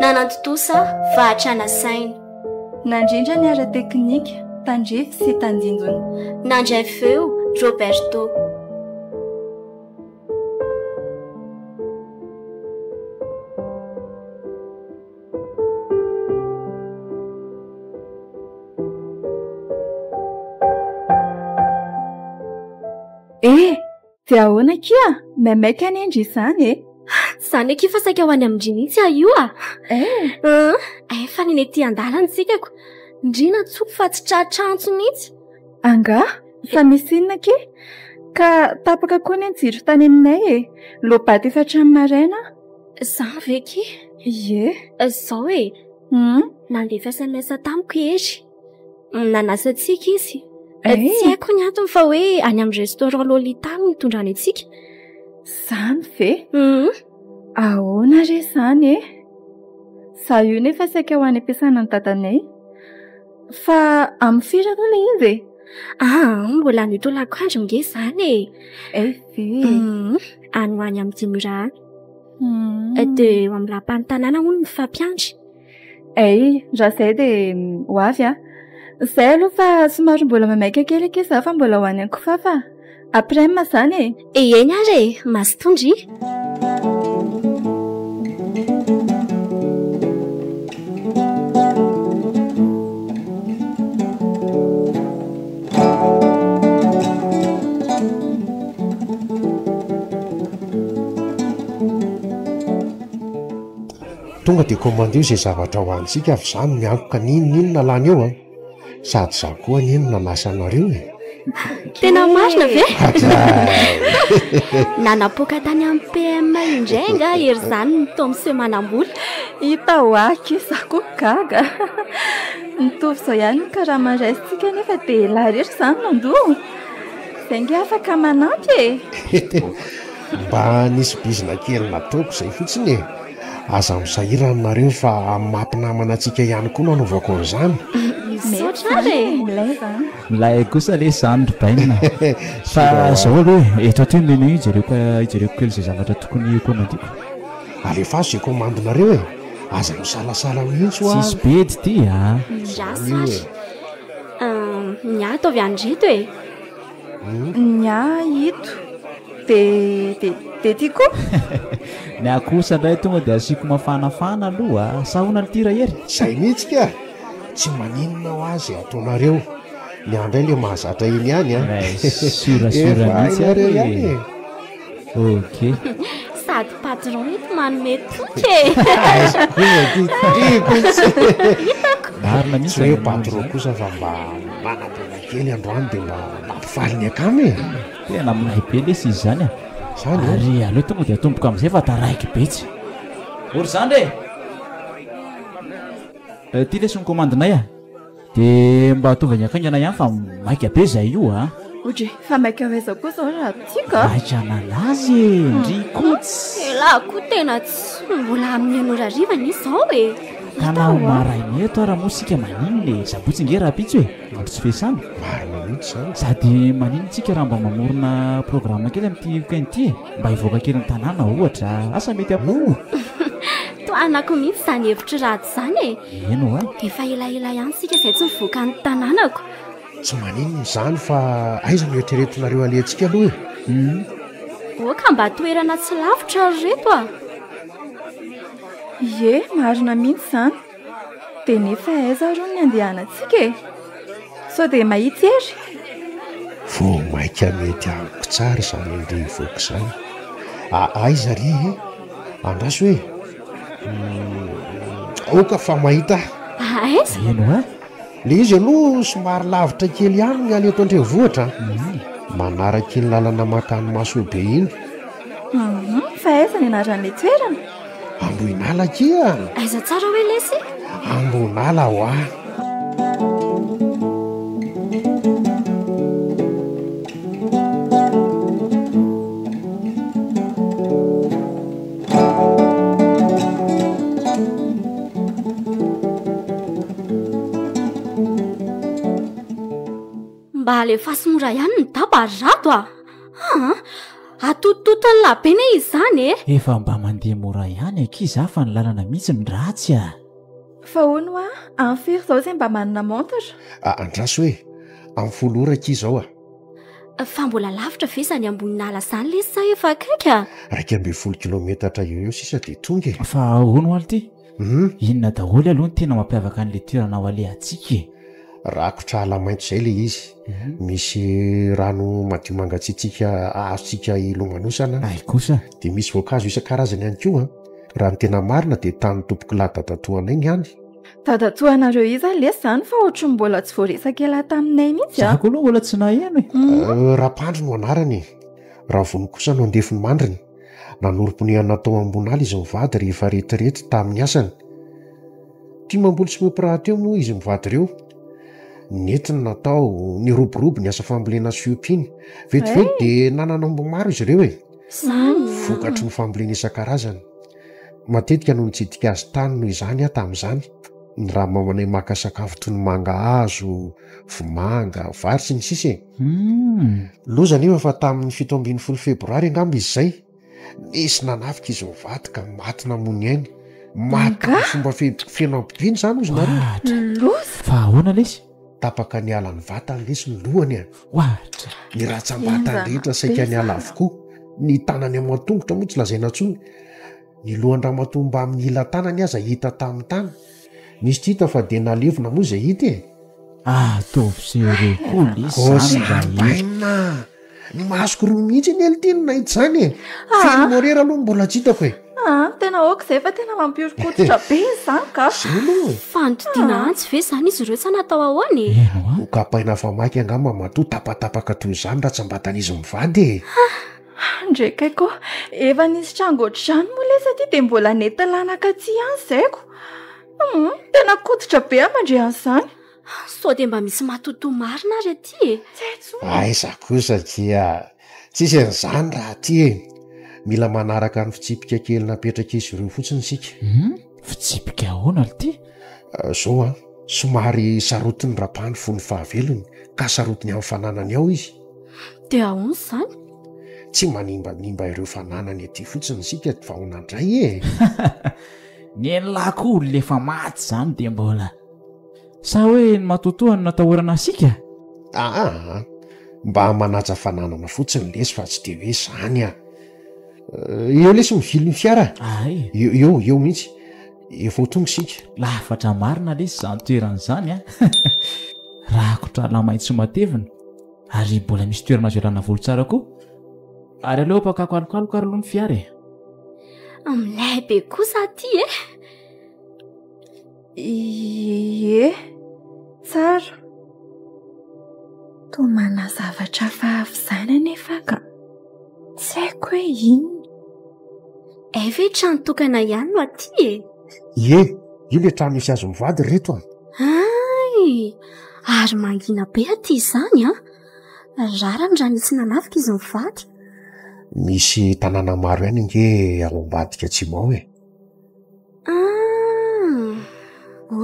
Nanantontosa fahatra nasaina. Nandrindra ny ara-teknika, tandrify sy tandindona. Nandray feo Roberto. Eh! Dia ahoana akia? Maimaika anie ndry izany e! Izany akia fa saika ho any amin-dry mihitsy aho io a! Eh! Efa neny ety an-dalana isika ko! Ndry nantsoiko fa tsy tratra antso mihitsy! Angaha? Fa misy inona akia? Ka tapaka koa anie ny jiro tany aminay e! Loa-bato efa hatramin'ny maraina aho! Izany ve akia? Ie! Izao e! Hum! Nandefa sms tamiko i Hery. Nanasa antsika izy. Eh? Tsy haiko ny antony fa hoe any amin'ny restaurant Lolita no nitondrany antsika. Zany ve? Mhm. Ahoana re zany e? Za io nefa saika ho any am-piasana ny dadanay. Fa amin'ny firy aloha ilay izy e? Ah, mbola any tolako andro nge zany e. Eh ve? Mhm. Any ho any amin'ny dimy ora any. Mhm. Dia eo amin'ny lapan'ny tanàna hono ny fampiandry. Ay, raha izay dia ho avy aho. Izay aloha fa somary mbola maimaika kely akia izaho fa mbola ho any an-kifafa. Après midi izany e. Heheiny ary e, mazotoa ndry. Tonga dia komandeo izay zavatra ho antsika avy za no miankoka ny inona inona lany eo an! Sady za koa anie no nanasa anareo e! Tena marina ve? Hadray! Nanapoaka tany amin'ny PM indray angaha ery izany ny Tomsy manambola? Hita ho ahy e! Za koa gaga! Mitovy izao ihany ny karama raisintsika nefa dia elah rery izany mandoa! Izay ange afaka manampy e! Mba nisy bizina kely nataoko izay fotsiny e! Aza misahirana nareo fa amin'ny maha mpinamana antsika ihany koa no anaovako an'izany. Misaotra ary e! Milay zany. Milay kosa lesy zany ry Bainina a! Fa zao aloha e, eto aty ny menu hijereko hijereko kely izay zavatra tokony ho komandiko. Alefaso izay komandinareo e! Aza misalasala mihitsy hoa! Tsisy bedy ity a! Miasa ary! Ny ahy ataovy any ireto e! Ny ahy ito de de de ty koa. Ny ahy kosa indray tonga dia asiako mafanafana aloha a! Sa ahoana lty Rahery? Zay mihitsy kah! Tsy maninona ho ahy izay ataonareo. Ny ahy indray le mahazatra iny ihany an! Efa hainareo ihany e! Okay. Sady patron eto manome toky e. Hitako. Marina mihitsy. Tsy hoe patron kosa fa mba manam-bola kely androany dia mba mampifaly ny akama e. Tena manahy be lesy izy izany a. Izany e. Ary aleo tonga dia atomboko amin'izay fa taraiky be tsy. Ory zandry e. Ity lesy ny komandinay a. De mba ataovy ny akaingana ihany fa maika be zay io a. Odry, fa maika aiza koa zao raha tiako a? Maika an'anazy e, ndry kots. Elah koa tena tsy mbola amin'ny enina ora hariva anie zao e. Tanaho maraina eto ara moa sika maninona e, sabotsy nge rahampitso e, andro tsy fiasana. Marina mihitsy zany. Sady maninona tsika raha mba mamorona programme kely amin'ity week-end ity e, mba hivoaka kely ny tanàna ohatra, asa mety am. Tohanako mihitsy izany hevitry Rhajo. Zany e! Eny oa! Efa elaela ihany isika izay tsy nivoaka ny tanànako. Tsy maninona izany fa aiza no eritreretinareo alehantsika aloha e? Hum. Oa ka mba toerana tsy lavitra ary ireto a! Ie, marina mihitsy izany. Dia nefa aiza ary hono ny andehanantsika e? Sao dia mahitsy ery? Vao mainka mety amiko tsara izany andeha hivoaka izany. A, aiza ary e? Andraso e! Aoka fa mahita ahy. Aiza? Ino a? Le izy aloha somary lavitra kely ihany ny any eto an-drenivohitra a. Manaraka iny lalana mankany Masoibe iny. Hum, fa aiza ny anaran'ilay toerana? Ambohinala akia. Aiza tsara hoe lesy? Ambohinala hoa. Mba alefaso mora ihany ny daba ry Rado a! Aa! Atotototony lahabe ne izy izany e! Efa mba mandeha mora ihany akia izaho fa ny lalana mihitsy no ratsy a! Fa hono hoa, any firy izao izay mba manana montre? Andraso e! Amin'ny folo ora akia izao a! Fa mbola lavitra ve izany ambonin'ala izany lesy sa efa akaiky a? Iraika ambin'ny folo kilaometatra eo eo sisa dia tonga e. Fa ahoana ho'a ity? Inona daholo aloha ny tena mampiavaka an'ilay toerana ho alehantsika e? Rakotra ala maitso izay ilay izy. Misy rano madio mangatsiatsiaka azontsika hilomanosana. Hay kosa! Dia misy voankazo isan-karazany ihany koa. Raha ny tena marina dia tanin'ny tompokolahy dadatoanay ny any. Dadatoa anareo iza lesy zany fa ohatry ny mbola tsy voaresaka ela taminay mihitsy a. Za koa aloha mbola tsy naheno e. Euh, Rapandry no anarany e. Ravony kosa no andefiny mandriny. Nanorim-ponehana tao ambon'ala izy mivady rehefa retirety tamin'ny asany. Tia mamboly sy miompy rahateo moa izy mivady ireo. Nety ny natao, niroborobo ny asa fambolena sy fiompiana. Vetivety dia nanana omby maro izy ireo e. Vokatry ny fambolena isan-karazany. Matetika no nitsidika azy tany noho izany aho tamin'izany, ny ramamanay maka sakafo toy ny mangahazo, vomanga, vary, sy ny sisa e. Loza anefa fa tamin'ny fito ambin'ny folo febroary angamba izy izay, nisy nanafika izy mivady ka maty namony aina. Maty tamin'ny fomba feno hampidiana izany ozy nareo. Loza! Fa ahoana lesy? Tapaka niala ny vatany lesy ny lohany a! Ohatra! Ny ratsambatany rehetra saika niala avokoa, ny tanany aman-tongotra moa tsy lazaina intsony. Ny lohan-dramatoa mbamin'ny ila-tanany aza hita tamin'ny tany. Nisy tsy hita fa dia nalevina moa izay hita e! Ataovy jereo koa lesy izany raha hita. Ny masoko roa mihitsy anie lty no nahita izany e! Firy morera aloha no mbola tsy hitako e! Aa tena aoka izay fa tena mampihoron-koditra be izany ka! Izay aloha e! Fa nitodiana antsy ve izany izy ireo sa natao ahoana e? Nokapaina fa maika angamba matoa tapatapaka toy izany ratsambatan'izy mivady e! Haa ndry kay koa efa nisy tranga ohatr'izany moa lesy aty dia mbola nety lanaka tsy ihany izay ko! Hum tena koditra be aho mandre an'izany! Sao dia mba misy matotoa marina ary aty e? Aiza kosa dia tsisy an'izany raha aty e! Mila manaraka ny fitsipika kely napetrak'izy ireo fotsiny isika. Hum, fitsipika ahoana ry ty? Izao an, somary sarotin'ny Rapa ny fony fahavelony ka sarotiny amin'ny fananany ao izy. Dia ahoana izany? Tsy manimbanimba ireo fananany aty fotsiny isika vao nandray e! Nen'lah koa olona efa maty izany dia mbola. Sa hoe ny matoatoa no natahorana asika? Aa! Mba manaja fananana fotsiny lesy fa tsy dia hoe izany an! Eo lesy mivily ny fiara a! Ay! Eo, eo mihitsy. Efa ho tonga isika. Lafatra marina lesy izany toerana izany an! Rakotra ala maitso matevina ary mbola misy toerana azo ialana voly tsara koa. Ary aleo apakako alokaloka ary aloha ny fiara e! Milay be kosa aty e! Ie, tsara. Toa manana zavatra hafa avy izany anefa aho ka tsy haiko hoe inona. Hay ve trano tokana ihany no aty e? Ie, io ilay trano misy hazo mivady ry reto a! Hay! Ary mangina be aty izany an! Rariny raha misy nanafika izy mivady. Misy tanàna maro ihany ange ao ambadika atsimo ao e! Ah,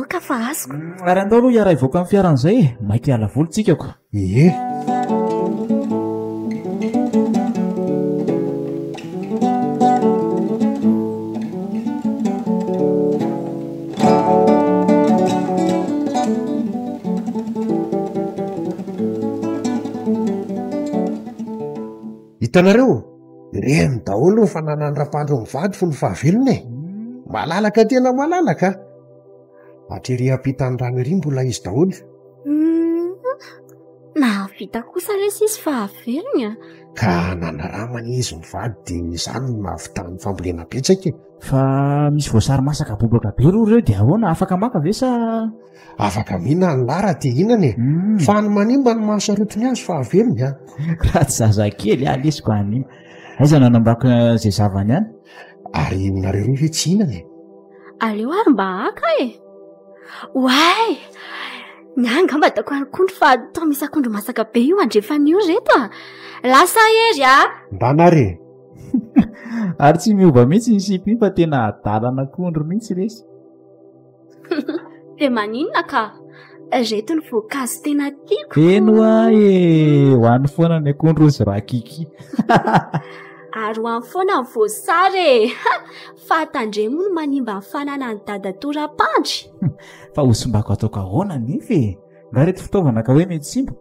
oka fa azoko. Mm, ary andao aloha hiara hivoaka amin'ny fiaran'izay e, maika hiala voly tsika ko. Ie. Hitanareo? Reny daholo ny fananan'ny rapaandro mivady fony fahavelony e! Malalaka tena malalaka! Hatry ery ampitan'ny rano ery mbola izy daholo. Nahavita kosa re sisy fahavelony a! Ka nanaramany izy mivady dia izany no nahavitany ny fambolena betsaka e! Fa misy voasary masaka bobaka be roa ireo dia ahoana? Afaka maka ve sa? Afaka mihina any lahy raha te hihinana e. Mm. Fa any manimba ny mahasarotiny azy fa avelony an. Raha tsy zazakely ah lesiko any. Aiza no anambako eh, izay zavany any? Ary nareo roa ve tsy hihinana e? Aleo ary mba haka e. Oay! Ny ahy angamba ataoko akondro fa toa misy akondro masaka be io andrefan'io reto ah. Lasa hery ah. Mba nare. Ary tsy miova mihitsy ny sipa iny fa tena adalan'akondro mihitsy lesy. Dia maninona ka? Ireto ny voankazo tena tiako. Eny hoa e, ho any foana ny akondro hozy rakiki. Ary ho any foana ny voasary e. Fa tandremo moa no manimba ny fananan'i dada tora-pandry. Fa ho simbako ataoko ahoana anefa e? Nga ireto fitaovana ka hoe mety simba?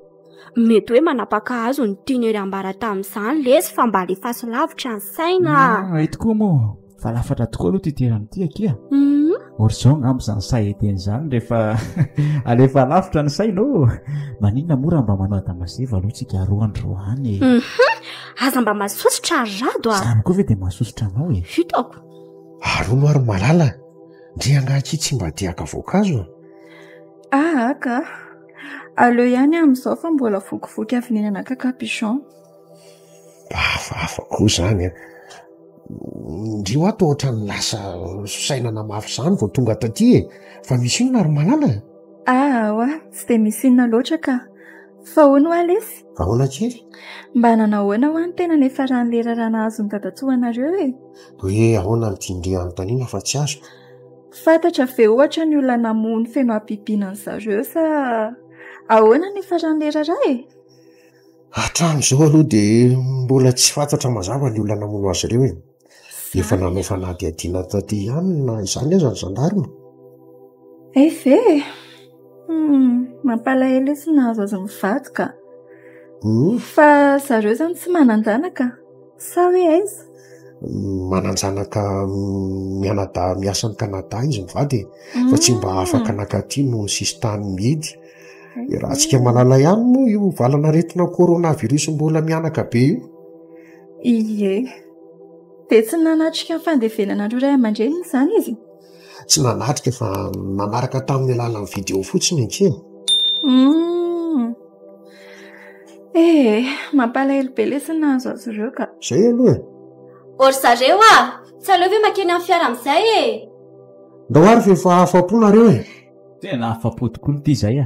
Mety hoe manapaka hazo ny tian'ery ambara tamin'izany lesy fa mba alefaso lavitra ny saina. Mety koa moa. Fa lafatra tokoa aloha ity toerana ity akia. Mhm. Or zao angamba izany sahy hiteny izany rehefa alefa lavitra ny saina ô. Maninona moa raha mba manao adamazeva aloha tsika roa andro any e. Mhm. Aza mba masosotra ry rado a. Izany koa ve dia masosotra anao e. Fitako. Arono ary malala. Ndry angaha akia tsy mba diaka voankazo a. Aa ka. Aleo ihany amin'izao fa mbola vokivoky avy nihinana cacapichon. Hafahafa koa izany an! Indrio ato ohatran'ny lasa saina namafy izany vao tonga taty e! Fa misy inona ry Malala e? Aowa, tsy dia misy inona loatra ka. Fa hono hoa lesy? Ahoana kely? Mba nanahoana hoa ny tenany efa raha ny lerara nahazo ny dadatoanareo e? Hoe ahoana no tian-dry hanontaniana fa tsy azoko? Fantatra ve ohatra ny olona namoha ny feno habibiana an'i zareo sa ahoana ny efa raha ny lerara e? Hatramin'izao aloha dia mbola tsy fantatra mazava ny olona namono azy ireo e. Efa nanao fanadihadiana taty ihany na izany aza ny zandarima. Hay ve e! Mampalahelo io tsy nahazo azy mivady ka. Fa zareo izany tsy manan-janaka. Sa hoe aiza? Manan-janaka mianadahy miasa any Canada izy mivady e. Fa tsy mba hmm. afaka naka aty noho ny sisintany mihidy. Raha antsika malala ihany moa io valanaretina coronavirus mbola mianaka be io. Ie. Dia tsy nanatrika ny fandevenanareo ray aman-dreniny izany izy? tsy nanatrika fa nanaraka tamin'ny alalan'ny video fotsiny akia. Humm ee mampalahelo be lesy nahazo azy ireo ka. Zay aloha e. O ry zareo a! Tsy aleo ve makeny amin'ny fiara amin'izay e! Ndao ary fa efa afa-po nareo e! Tena afa-po tokoa ity izay a!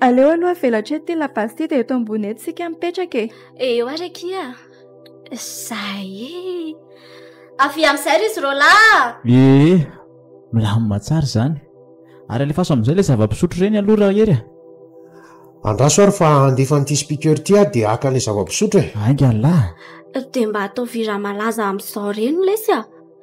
Aleo aloha avelatra eto ity labasy ity dia eto ambony eto isika mipetraka e. Eo ary akia. Zay e. Avia amin'izay ry izy roalahy. Ee, milamina tsara izany. Ary alefaso amin'izay ilay zava-pisotro ireny aloha Rahery a. Andraso ary fa handefa an'ity speaker ity aho dia haka ilay zava-pisotro e. Ainga anlah. Dia mba ataovy hira malaza amin'izao ireny lesy a.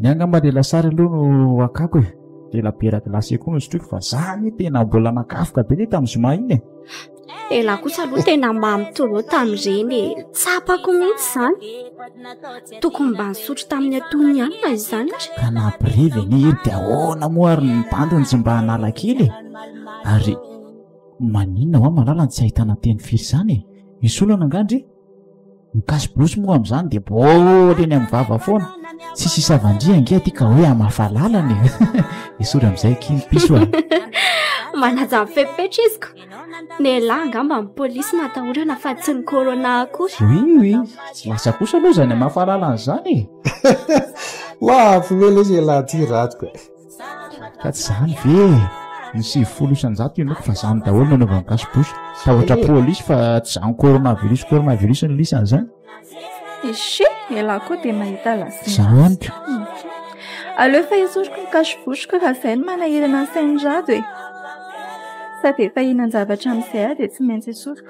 Ny angamba dia lasary aloha no akako e. Dia labiera glacé koa nosotroiko fa za anie tena mbola nakafoka be le tamin'ny zoma iny e. Ela kosa aloha tena mamy trop tamin'ireny e. Tsapako mihitsy izany. Tokony mba nisotro tamin'ny antonony ihany na izany ary. Ka na brevy anie iny dia ahoana moa ary ny bandiny tsy mba hanala kely e. Ary maninona hoa malala no tsy ahitana teny firy izany e. Misy olana angaha ndry? ny kasibosy moa amin'izany dia boly eny amin'ny vava foana tsy sisavandria ange aty ka hoe amafalalana e esory amin'izay kiny piso a manaja fepetra izyko ny lahy angamba ny polisy natahorana fa tsy ny corona akory oui oui tsy lasa kosa aloha izany amafalalana izany e laha avy mela izy e laha ty ratiko e Ka tsy zany ve e! Ny sivifolo isanjato henoiko fa zany daholo no anaovan'ny gasy bouche. Tahotra police fa tsy zany coronavirus coronavirus ny lisany zany. Echec, ialahy koa dia mahita lazaina. Zany ka. Aleo efa esoriko ny cache bouche ko raha zay no manahirana ny sain'i Rado e. Sady efa hihinan-javatra amin'izay aho dia tsy maintsy esoriko.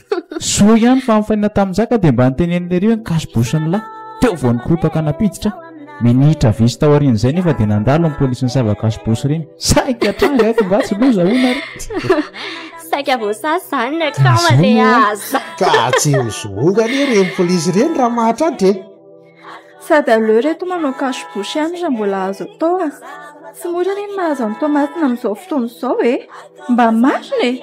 Soa ihany fa nifaninana tamin'i Jaka dia mba niteneniny ery hoe nikaso-bo sy ny lahy. Teo vao nikorotaka nampiditra. Minitra vitsy taorian'izay nefa dia nandalo ny polisy nisava kaso-bo sy reny. Saika tranga eto nga tsy loza hono ary. Saika voasasa izany ny akama dia aza. Ka tsy mizohoga anie ireny polisy ireny raha mahatratra e. Sady aleo ry reto manao cache bouche ihany raha mbola azo atao e. Tsy mora anie ny mahazo an'i Toamasina amin'izao fotoana izao e. Mba marina e!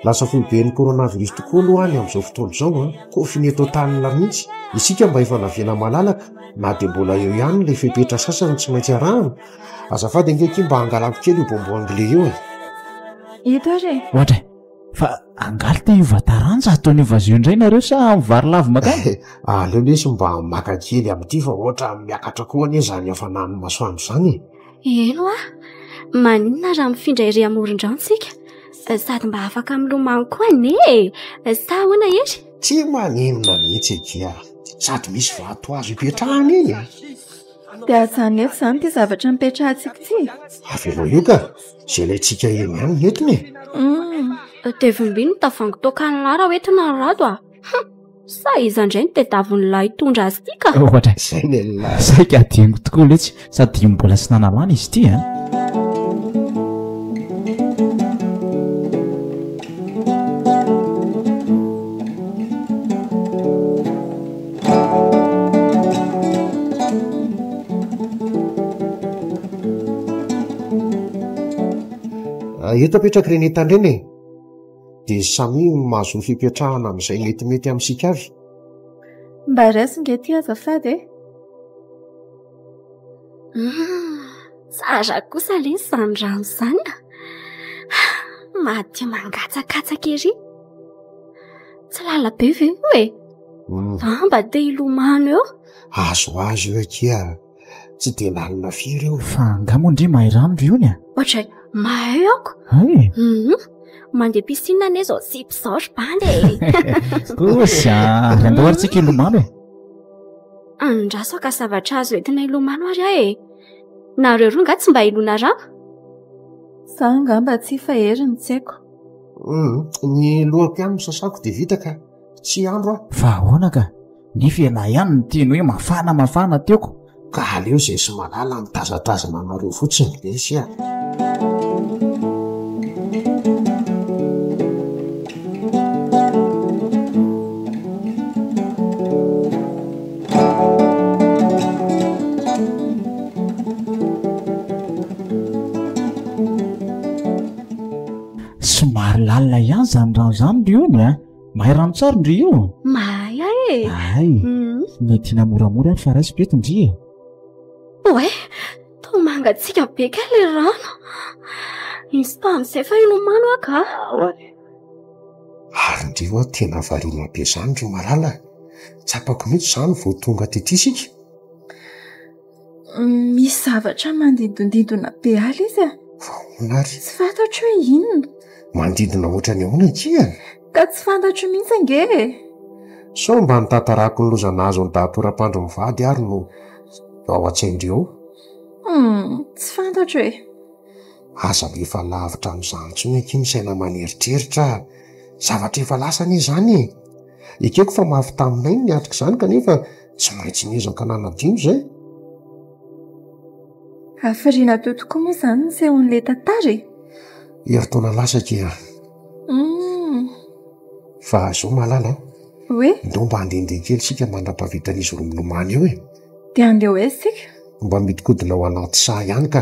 Lasa foiben'ny coronavirus tokoa aloha ny amin'izao fotoana izao an! Confiné total mihitsy. Isika mba efa navela malalaka na dia mbola eo ihany ilay fepetra sasany tsy maintsy arahana. Azafady ange akia mba angalako kely io bonbon anglais io e! Ito ary e! Ohatra e! fa angaly te hiova taranja ataony hiova azy io indray nareo sa amin'ny vary lavo makany eh, aleo lesy mba maka kely amin'ity fa ohatra miakatra koa anie izany hafanan'ny masoandro izany e elo a maninona raha mifindra iry amoron-drano tsika eh, sady mba afaka milomano koa ane eh, sa ahoana hery tsy maninona mihitsy ekia sady misy vato azo ipetrahana iny e. dia ajanefo izany ity zavatra mipetrahantsika ity avelo io ka Izay ilaintsika eny ihany ny entona e! Humm! Tevim-by ny tavoahangy toakan'i lahy raha hoentina ry rado a! Hum! Sa iza indray no tedavon'i lahy hitondra azy ity ka? Ohatra izay ny an'i lahy! Saika hadinoko tokoa letsy sady dimy mbola tsy nanalana izy ity a! Eto apetraky ireny entana ireny e, dia samia mahazoa fipetrahana amin'izay metimety amintsika avy. Mba raiso nge ity azafady e. Tsara kosa le izany rano izany a. Madio mangatsakatsaka ery. Tsy lala be ve io e? An mba te hilomano eo? Azo azo eo akia, tsy dia lalina firy eo. Fa angaha moa ndry mahay rano ry ony a? Ohatray, mahay aoko. Hay e? Hum, mandeha piscine anie izao tsipy izao ry bandy e. Kosy a, ary andao ary tsika hilomano e. Andraso ka zavatra azo entina hilomano ary aho e. Nareo roa angaha tsy mba hilona rano? Za angamba tsy fa Hery no tsy haiko. Hum, ny lohako ihany no sasako dia vita ka. tsy andro aho fa ahoana ka nefa ialahy ihany ny teny hoe mafana mafana teoko ka aleo izay sy malala mitazatazana anareo fotsiny lesy a somary lalina ihany izany rano izany ry ony a mahay rano tsary ndry io mahay a e ay mm. ny tiana moramora any fa raisiko eto ndry e oe to mangatsika be ka le rano misy tamin'izay fa inomano a ka ary ndry oa tena variana be zany ry malala tsapako mihitsy zany vao tonga tetisika Misy zavatra manidondidona be ahy izy an! Fa ahoana ary? Tsy fantatro hoe inona. Manodidina hoatran'ny ahoana ity an? Ka tsy fantatro mihitsy ange e! Sao mba ny tantarako ny loza nahazo an'i Dato Rapandry mivady ary no ao an-tsain-dry ao? Humm, tsy fantatro e! Aza alefa lavitra amin'izany intsony akia ny saina aman'eritreritra a! Zavatra efa lasa anie izany e! Ekeko fa mafy taminay ny niatrika izany kanefa tsy maintsy niezaka nanadino izay hafiriana teo tokoa moa izany ny sehon'ilay tantara e heritaona lasa ke a hmm. fa zao malala hoe ndao mba handehandeha kely sika mandra-pahavitan'izy roa milomano eo e dia andeha ho aiza sika mba midikodina ao anaty saha ihany ka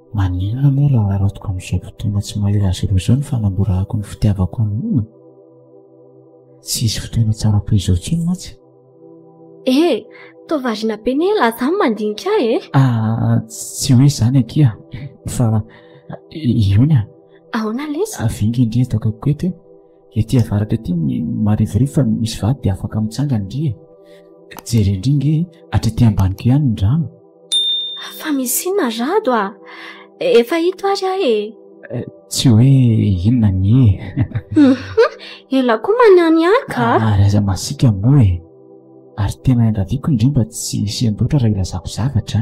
Maninona moa raha haratoko amin'izao fotoana tsy mahery azy ireo izao ny fanamborahako ny fitiavako amin'ny olona? Tsy hisy fotoana tsara toy izao intsony mantsy. Eh, toa variana be ny ela aza mandinika ahy eh. Ah, tsy hoe izany akia, fa iona? Ahoana lesy? Avy inga indry hitako akoeto eh. Ety avaratra ety ny marivorivo fa misy vato dia afaka mitsangana ndry e. Jereo ndry nge hatry ety ambaniko ihany ny rano. Fa misy inona ry Rado a? Efa hito ary aho e. Eh, tsy hoe inona ny e. Ela koa manihany ahy ka. Ary aza masiaka moa e. Ary tena iangaviako indray mba tsy hisian-doatra raha ilazako zavatra.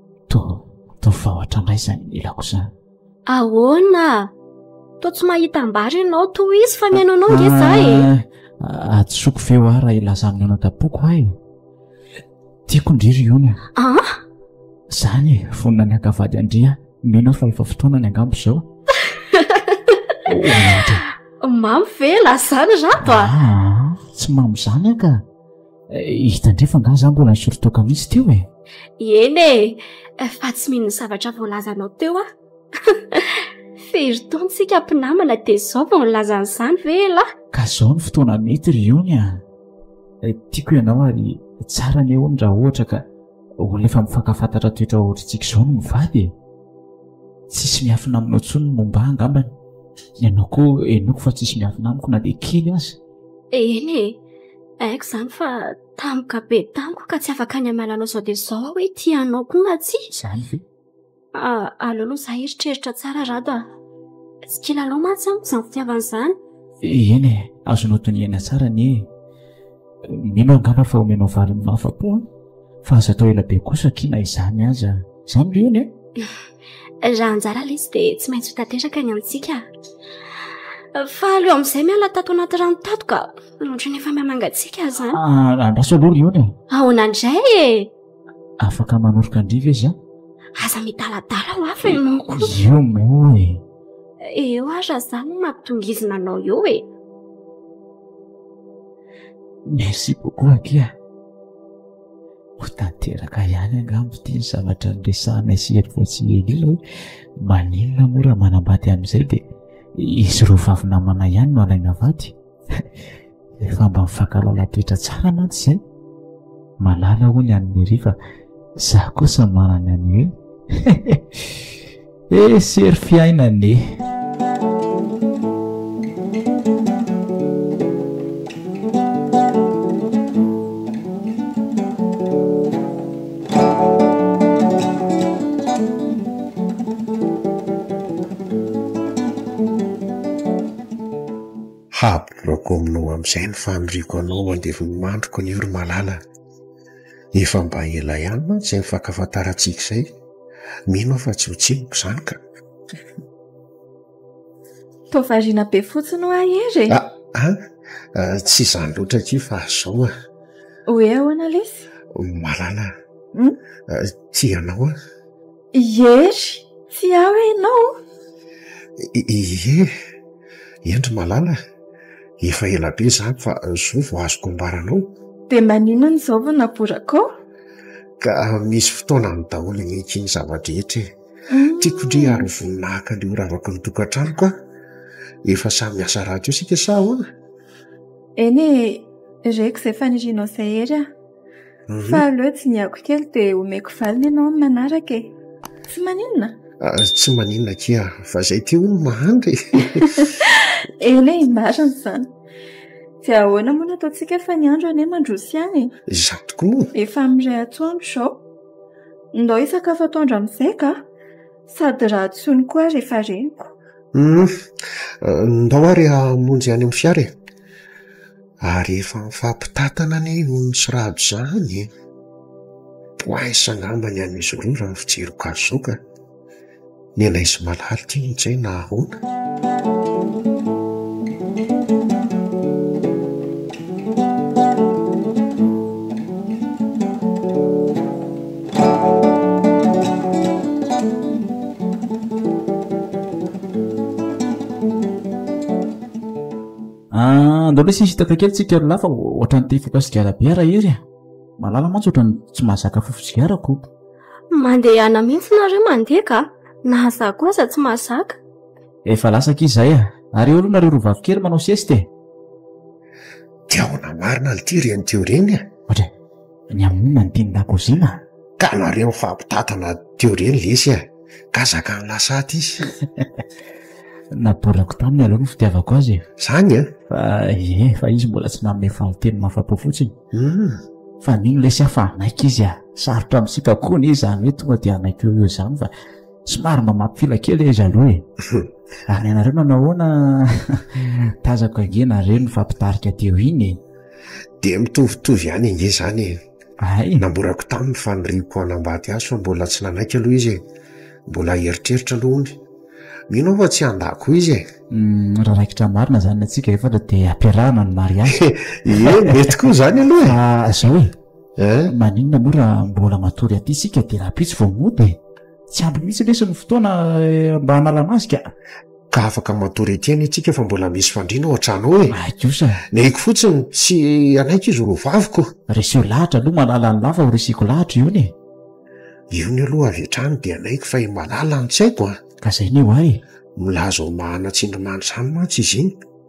Toa, toa fa ohatranay izany nilako izany. Ahoana? Toa tsy mahita am-bary ianao, toa izy fa mihaino anao nge za e. Ah, Hadisoako ve hoa raha hilaza amin'ny anadapoko hoa e? Tiako ndry ry Ony a. Ah? Izany e, vonona ny haka vady an-dry aho, mino aho fa efa fotoanany angamba izao. Mamy ve? Lazany rato a! Ah, tsy mamy izany aho ka. hitandrefa nga za mbola nisorotoka misy teo e eny e eh, fa tsy mino ny zavatra voalazanao teo a fery tontsika mpinamana dia zao vao nilazany izany ve la ka zao ny fotoana mety ry ony a eh, tiako ianao ary tsara ny ony raha ohatra ka olona efa mifankafantatra toetra ohatritsika izao no mivady e tsisy miafina aminao tsony ny momba angambany ianao koa enoko fa tsisy miafina amiko na dia kely azy eny e Haiko izany fa tampoka be tamiko ka tsy afaka ny hamela anao izao dia izao aho hoe tia anao koa na tsia. Izany ve? Ah, aleo aloha izaho hieritreritra tsara Rado ah. Tsy kilalao mantsy amiko izany fitiavana izany. Eny e, azonao dinihana tsara anie e. Mino aho angamba fa omenao valiny mahafa-po an! Fa aza atao ela be kosa akia na izany aza. Izany ve hono e? Raha anjara ilay izy dia tsy maintsy ho tanteraka ny antsika. Fa aleo amin'izay miala tato anaty rano tato ka. Ohatran'ny efa mamangatsiaka aho izany. Ah, andraso aloha ry Ony. Ahoana indray e? Afaka manoroka an-dry ve za? Aza midaladala ho hafa ianao koa. Io moa e. Eo aza za no mampitongizina anao eo e. Merci beaucoup aky a. Ho tanteraka ihany angamba ity ny zavatra niresahanay sy Hery vao tsy ela ela hoe maninona moa raha manambady amin'izay dia izy ireo vavy namana ihany no alaina vady. efa mba mifankalala toetra tsara mantsy zay malala hoy ny any Mary fa za kosa manana any hoe eh sery fiainana e Hablock aminao amin'izay ny faniriako anao mandevo ny mandriko anio ry malala a! Efa mba ela ihany mantsy izay nifankafantarantsika izay, mino aho fa tsy ho tsiniko izany ka! Toa variana be fotsiny hoa Hery e! Ah ah! Tsy izany loatra akia fa izao a! Hoe ahoana lesy? Malala a! Tia anao aho. Hery, tsy ahy ve ianao? Ie, eny ry malala, efa ela be izany fa izao vao azoko ambara anao. Dia maninona izao vao naboraka ao? Ka misy fotoanany daholo ihany ny zava-drehetra e! Tiako indray ary ho voninahaka an'io ravaky ny tokantranoko aho. Efa samy miasa rahateo isika sa ahoana? Eny e, reko izay fanirianao izay Hery a! Fa aleo dinihako kely dia omeko valiny ianao amin'ny manaraka e. Tsy maninona? Ah, tsy maninona kia, fa izay ity hono mahantra e. Eny e, marina izany. Dia ahoana moa no ataontsika fa ny andro anie mandroso ihany e? Izaho tokoa moa. Efa amin'ny iray antoandro izao. Ndao hisakafo atoandro amin'izay ka. Sady raha tsy hono koa aho rehefa reniko. Hum, ah, ndao ary hamonjy any amin'ny fiara e. ary efa mifampitantana anie ony sy rado zany e! poinsa angamba ny an'izy roa raha ny fijeriko azy zao ka, ny anay sy malala ty moa zay nahaona? Andao lesy hisitaka kely tsika ry lahy fa ohatran'ny te hifoka sigara be ara hery a. Malala mantsy ohatran'ny tsy mahazaka fofo sigara koto. Mandehana mihitsy nareo mandeha ka, na za koa aza tsy mahazaka. Efa lasa akia izay a. Ary eo aloha nareo roa vavy kely manao sieste e. Dia ahoana marina lty ry an'ity oreny a? Ohatry. Ny hamono ny tenin-dakozia? Ka nareo mifampitantana teo re ny lesy a! Ka zakan'i Lasaty izy. Naborako taminy aloha ny fitiavako azy e! Zany an! Fa ie, fa izy mbola tsy nanome valin-teny mahafa-po fotsiny. Hum! Fa mino lesy aho fa hanaiky izy a! Sarotra amintsika koa anie izany hoe tonga dia hanaiky eo ho eo izany fa somary mba mampifila kely izy aloha e! Ary ny anareo nanao ahoana? Tazako ange nareo nifampitarika teo iny e! Dia mitovitovy ihany ange izany e. Hay. Namborako taminy fa niriko hanambady azy fa mbola tsy nanaiky aloha izy e. Mbola hieritreritra aloha hono. Mino aho fa tsy handà koa izy e. Uhm, raha raikitra marina izany ny antsika efatra dia ampiarahana ny mariazy. Ie, mety koa izany aloha e. Fa izao e, Hein? maninona moa raha mbola matory aty isika dia rahampitso vao mody e. Tsy ampy mihitsy lesy ny fotoana eh, mba hanala-maso ka. Ka afaka matory ety any isika fa mbola misy fandriana ao an-trano ao e! Haiko sa? Ny haiko fotsiny, tsy hanaiky izy ho roaviko. Reseo lahatra aloha Malala an'lah fa ho reseko lahatra io anie. Io ny aloha avy hatrany dia hanaiky fa i Malala no tsy haiko an! Ka izay ny ho ahy e! Milaza ho mahana tsindrimandry izany mantsy izy iny.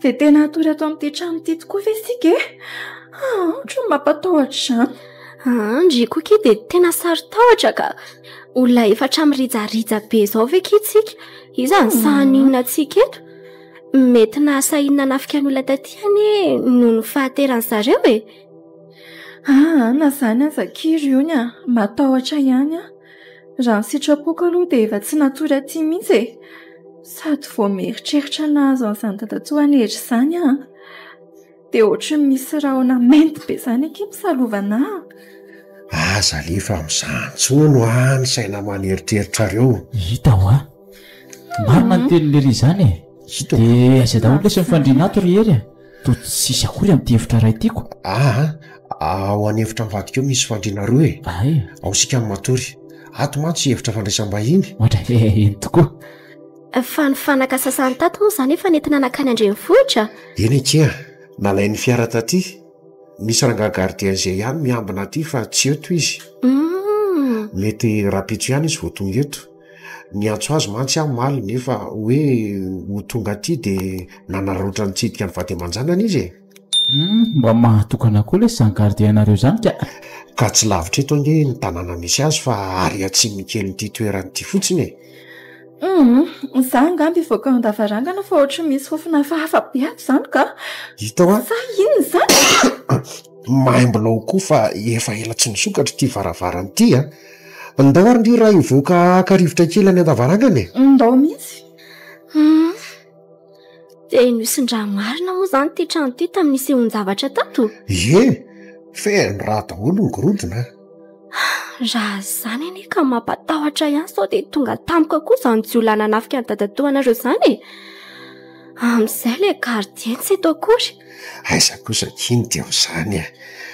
Dia tena hatory ato amin'ity trano ity tokoa ve isika e? Ah, ohatran'ny mampatahotra izany. Ah, ndry koa kie dia tena saron-tahotra ka. Olona efatra mirijarija be izao ve kie tsika? Iza ny hmm. sahaninona antsika eto? Mety nahasahiana nanafika ny olona taty anie noho ny fahateran'ny zareo e. Ah, na izany aza kie ry ony ah, matahotra ihany ah. Raha ny sitrapoko aloha dia efa tsy natory aty mihitsy e. Sady vao mieritreritra ny nahazo an'izany dadatoa Hery izany aho. Dia ohatran'ny misy rahona mainty be izany akia misalovana ahy. Aza alefa amin'izany intsony ho'a ny saina aman'eritreritrareo. Hita ho'a. Marina ny tenin'i Lery izany e. Dia aiza daholo lesy ny fandrian'ato ry Hery a? Toa tsy sisy akory amin'ity efitra iray ity ko. Aa, ao any efitra mivadika ao misy fandriana roa e. Aa e. Ao isika no matory. Ato mantsy efitra fandraisam-bahiny. Ohatra ve eny tokoa. Fa ny fanaka sasany tato moa izany efa nentina nankany an-drenivohitra? Eny ankia, nalain'ny fiara taty. Misy rangahy gardien izay ihany miambina aty fa tsy eto izy. Hum. Mety rahampitso ihany izy vao tonga eto. Niantso azy mantsy aho omaly nefa hoe ho tonga aty dia nanararaotra nitsidika ny vady aman-janany izy e! Humm, mba mahatokana koa ilay sans gardien anareo izany ka! Ka tsy lavitra eto ange ny tanàna misy azy fa ary atsimo kelin'ity toerana ity fotsiny e! Humm, izaho angamba hivoaka ao an-davarangana fa ohatry ny misy fofona hafahafa be ato izany ka! Hita hoa! Sa inona izany? Maimbo lao koa fa efa ela tsy nisokatra ity varavarana ity an! Ndao ry raha hivoaka haka rivotra kely any an-davarangana e! Ndao mihitsy! Humm! Dia nosin-dra marina moa izany ity trano ity tamin'ny nisehoan-javatra tato? Ie! Feno rà daholo ny gorodona an! Raha izany anie ka mampatahotra ihany sao dia tonga tampoka koa izany jiolahy nanafika an'i dadatoa anareo izany e! Amin'izay ilay gardien tsy eto akory. Aiza kosa k'iny dia amin'izany e!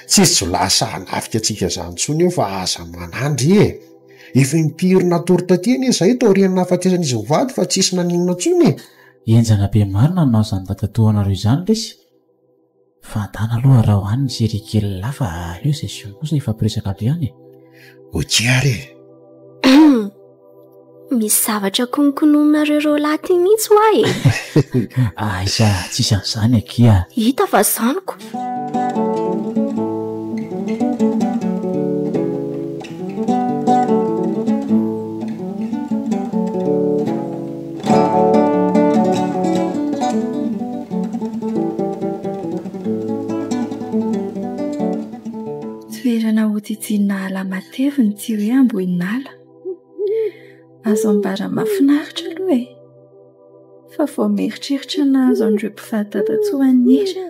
Tsy jiolahy sahy hanafika antsika izany intsony io fa aza manandry e! Efa impiry natory taty anie izahay taorian'ny nahafatesan'izy mivady fa tsisy naninona intsony e! Henjana be marina ny nanao izany dadatoanareo izany lesy. Fantana aloha raha ho any ny série kely lahy fa aleo session kosa efa mpiresaka be any e. Ok ary e. Misy zavatra kononkonononareo roalahy ty mihitsy hoa e. Aiza tsisy an'izany akia. Hita fa zaniko. Toerana hotsitsiana ala mateviny tsy hoe amboin'ala. Azo ambara mahafinaritra aloha e. Fa vao mieritreritra ny nahazo an'ireo mpivady dadantsika an'isa,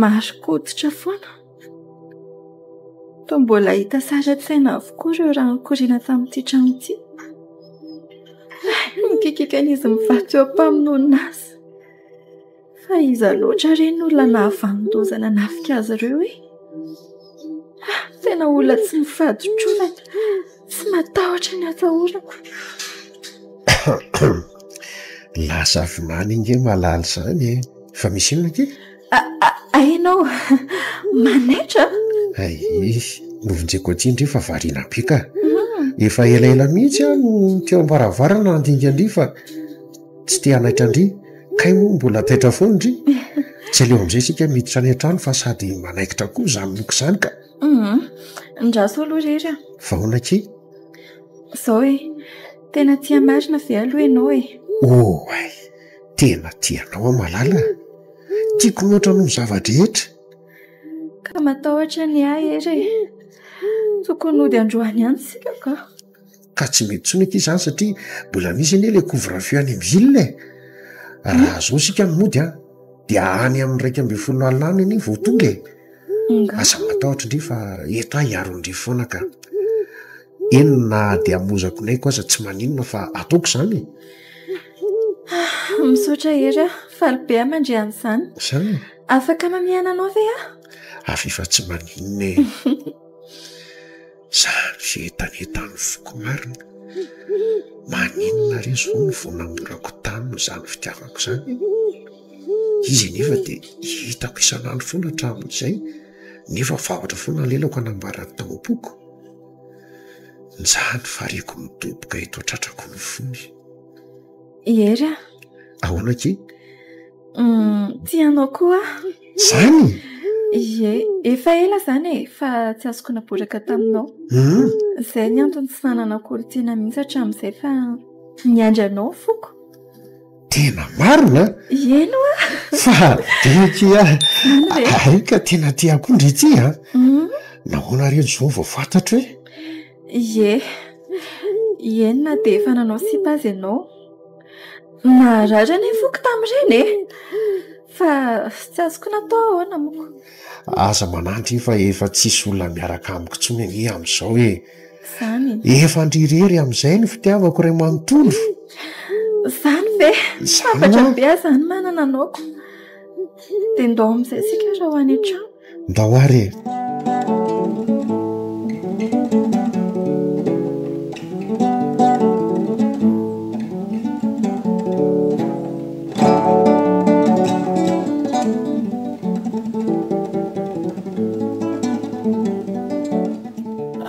mahazo-koditra foana. Toa mbola hita sary an-tsaina avokoa ireo rano nikoriana tamin'ity trano ity. Ny kikikan'izy mivaky eo am-pamonoana azy. Fa iza loatra re ny olona nahavanon-doza nanafika azy ireo e? Tena olona tsy mifaditrovana, tsy matahotra ny hatahorako. Lasa avy maly ange malala izany e! Fa misy inona akia? Ahiana aho manaitra a! Ahiahy, novonjeko aty indry fa variana be ka! Efa elaela mihitsy aho no teo am-baravarana handinika an-dry fa tsy te hanaitra an-dry. Kay moa mbola taitra foana indry. Tsy aleo amin'izay isika miditra any an-trano fa sady manaikitra koa izany loka izany ka! Andraso aloha irery a! Vahoana akia! Izao e! Tena tia marina ve aloha ianao e? Oay! Tena tia anao aho malala a! Tiako mihoatra noho ny zava-drehetra. Ka matahotra ny ahy Hery e! Tokony hody androany ihany isika ka. Ka tsy mety intsony ity izany satria mbola misy anie ilay couvre-feu any amin'ny ville e! Raha izao isika no mody an, dia any amin'ny iraika ambin'ny folo alina any anie vao tonga e! Aza matahotra indray fa eto aho hiaro an'ireo foana ka. eny na dia hamozako ny aiko aza tsy maninona fa ataoko izany e misaotra hery aho faly be aho mandre an'izany izany afaka mamihana anao ve aho avy efa tsy maninona e za mize etanetan'ny foko marina maninona re zao ny vao namborako taminy izany fitiavako izany izy anefa dia hitako isan'andro foana hatramin'izay nefa vavatra foana ny lelako hanambarany tao am-poko Mizaha ny fariako midoboka eto an-tratrako ny fony. I Hery a! Ahoana akia? Tia anao koa aho. Izany? Ie, efa ela izany e, fa tsy azoko naboraka taminao. Izay ny antony tsy nananako olon-tiana mihitsy hatramin'izay fa niandry anao foko. Tena marina an! Eny oa! Fa adinoko ihany. Eny ve? Hay ka tena tia koa ndry ity an! Nahoana re Joe vao fantatro hoe. Ie, ie na dia efa nanao sipa aza ianao. Naharary anie ny foko tamin'ireny e! Fa tsy azoko natao ahoana moa. Aza manantena fa efa tsisy olona miaraka amiko intsony anie amin'izao e! Efa ndry irery amin'izay ny fitiavako iray manontolo. Izany ve? Sambatra be aho izany manana anao ko. Dia ndao amin'izay isika raha ho any an-trano. Ndao ary e.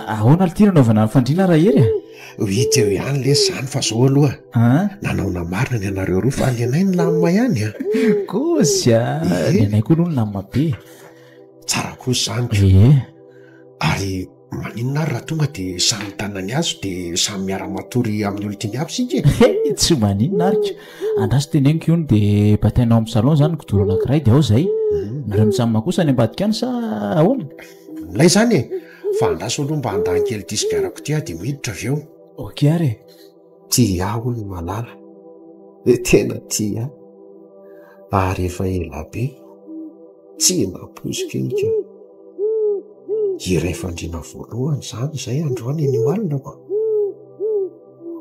Ahoana ity nanaovana ny fandriana Rahery a? Ho hita eo ihany lesy izany fa izao aloha an! nanaona marina ny anareo roa fa ny anay nilamina ihany an! Kozy a! ny anay koa aloha nilamina be e! Tsara kosa izany ka! Ee! Ary maninona ary raha tonga dia samy mitana ny azy dia samy miara-matory amin'ny olon-tiany avy isika e! He! tsy maninona ary ka! Andraso teneniko io no dia batainao amin'ny salon izany ny kidoro anankiray dia ao izay! Nareo mitsamina kosa any ambadika any sa ahoana? Milay zany e! Fa andraso aloha mba handany kely disque arako ity aho dia miditra avy eo. Ok ary e! Tia ahy hono i Malala e! Tena tia ahy ary efa ela be tsy nampoiziko iny ka! Hira efa andriana voalohany izany izay androany eny Ioalina ô!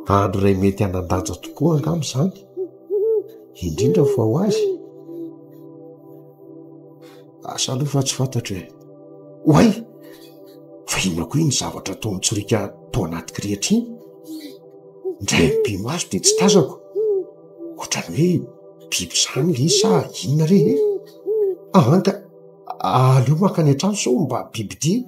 Andro iray mety hanan-danja tokoa angamba izany, indrindra fa ho azy. Asa aloha fa tsy fantatro e. Oay! Fa inona koa iny zavatra toa mitsoriaka tao anaty kirihitra iny? Indray mipimaso dia tsy tazako. Ohatran'ny hoe biby izany ilay izy sa inona re e? Ahanka, aleo mankany an-trano sao mba bibidia e!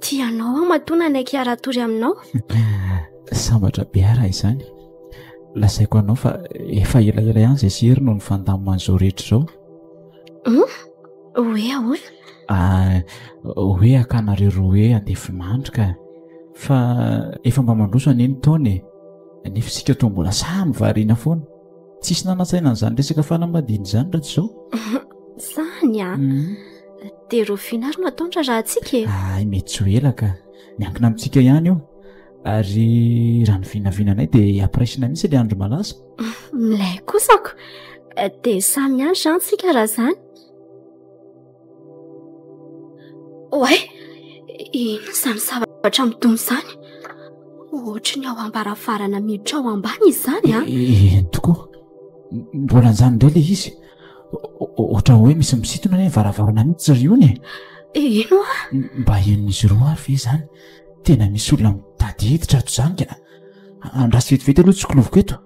Tianao aho matoa nanaiky hiara-tory aminao? Sambatra be aho raha izany. Lazaiko anao fa efa elaela ihany izay sery no nifandamina an'izao rehetra izao. Hum? Hoe ahoana? Ah, hoe akanareo roa hoe andefinandro ka. Fa efa mba mandroso anie ny taona e. Nefa isika toa mbola samy variana foana. Tsisy nanantsaina an'izany resaka fanambadiana izany raha tsy izao. Zany a. Ah. Mhm. Dia ireo finaro no ataony raharahantsika e. Ay mety tsy ho ela ka. Miankina amintsika ihany io. Ary raha ny vinavinanay dia hampiraisina mihitsy ilay andro malaza. Milay kosako. Dia samy miandry izany isika raha izany. Oay! Inona izany zavatra midona izany? Ohatry ny ao am-baravarana miditra ao ambany izany an! Ah. Eny tokoa, mbola anjany indray ilay izy. Ohatran'ny hoe misy misintona any amin'ny varavarana mihitsy ry ony e! Eny oa! Mba henon'izy ireo ary ve izany? Tena misy olona mitady hiditra ato izany ka! Andraso vetivety aloha ny tsikiloviko eto.